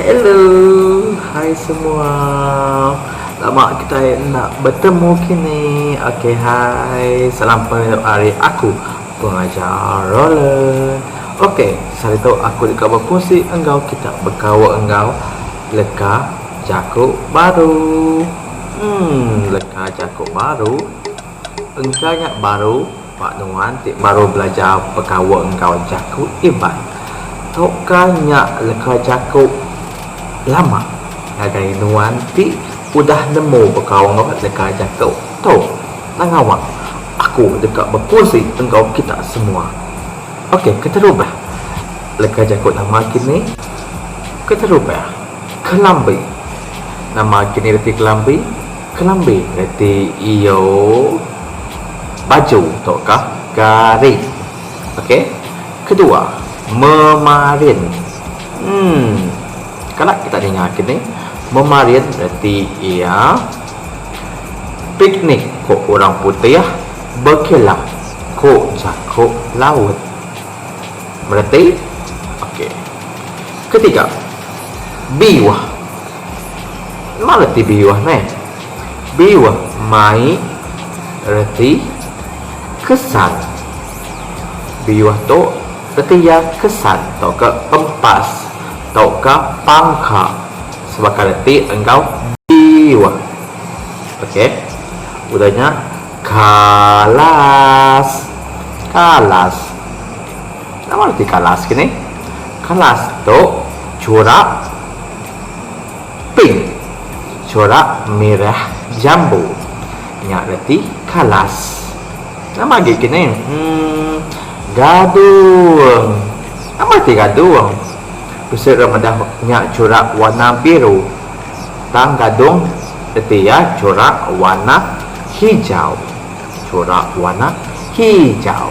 Hello, hai semua. Lama kitai enda betemu kini. Okey hai. Salam pengereja ari aku, Pengajar Roland. Okey, sehari tu aku deka bekusi enggau kita bekaul enggau leka jaku baru. Umm leka jaku baru. Engka nya baru ba nuan ti baru belajar begaul enggau jaku Iban. Tauka nya leka jaku lama ngagai nuan ti udah nemu begaul enggau leka jaku tu. Tang awa aku deka bekusi enggau kita semua. Ok keterubah leka jaku lama kini keterubah kelambi. Nama agi nya reti kelambi? Kelambi reti iyo baju tauka garing. Okey. Kedua, memarin. Em kala kita ninga agi nih. Memarin reti iya piknik ko orang putih bekela ko jako laut. Mengerti? Okey. Ketiga. Biuh. Nama reti biuh ne? Biuh mai reti kesan. Biuh tu reti iya kesan tauka empas tauka pangka sebaka reti enggau biuh. Okey. Udah nya kalas. Kalas. Nama reti kalas ke ni? Kalas tu corak pink, corak merah jambu. Nya reti kalas. Nama agi ke ni? Emm gadung. Nama reti gadung? Bisi orang madah nya corak warna biru. Tang gadung reti iya corak warna hijau. Corak warna hijau.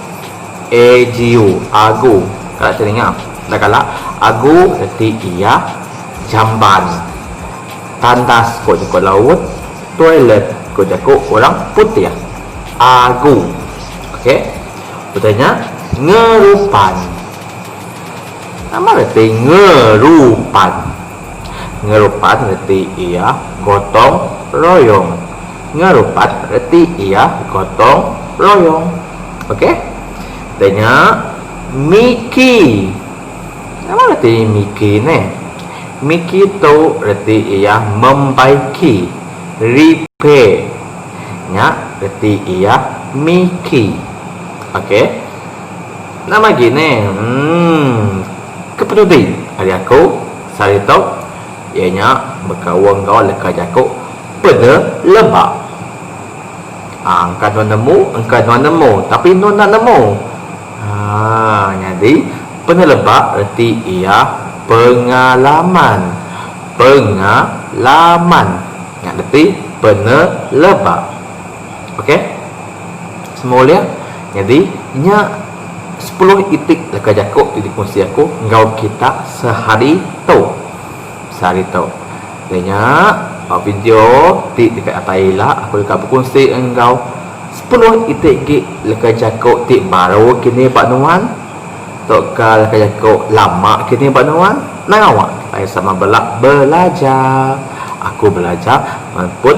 AGU, agu, kala telinga, enda kala, agu reti iya, jamban, tandas ko jako laut, toilet ko jako orang putih, agu ok utai nya ngerupan, nama reti ngerupan, ngerupan reti iya gotong royong. Ngerupat reti iya gotong royong. Ok. Kita nya Miki. Nama reti Miki ne? Miki tu reti iya membaiki, repair. Nya reti iya Miki. Ok. Nama agi ne? Umm. Kepeduli ari aku sehari tu. Iya nya bekaul enggau leka jaku peda leba. Aa engka nuan nemu engka nuan nemu tapi nuan enda nemu. Aa nyadi peda leba reti iya pengalaman. Pengalaman nya lebih peda leba. ok semua ulih nyadi nya sepuluh itik leka jaku ti dikunsi aku enggau kita sehari tu sehari tu jadi nya ba video ti deka datai ila aku deka bekunsi enggau sepuluh itik agi leka jaku ti baru kini ba nuan tu ka leka jaku lama kini ba nuan nang awak kitai sama bela belajar aku belajar nuan pun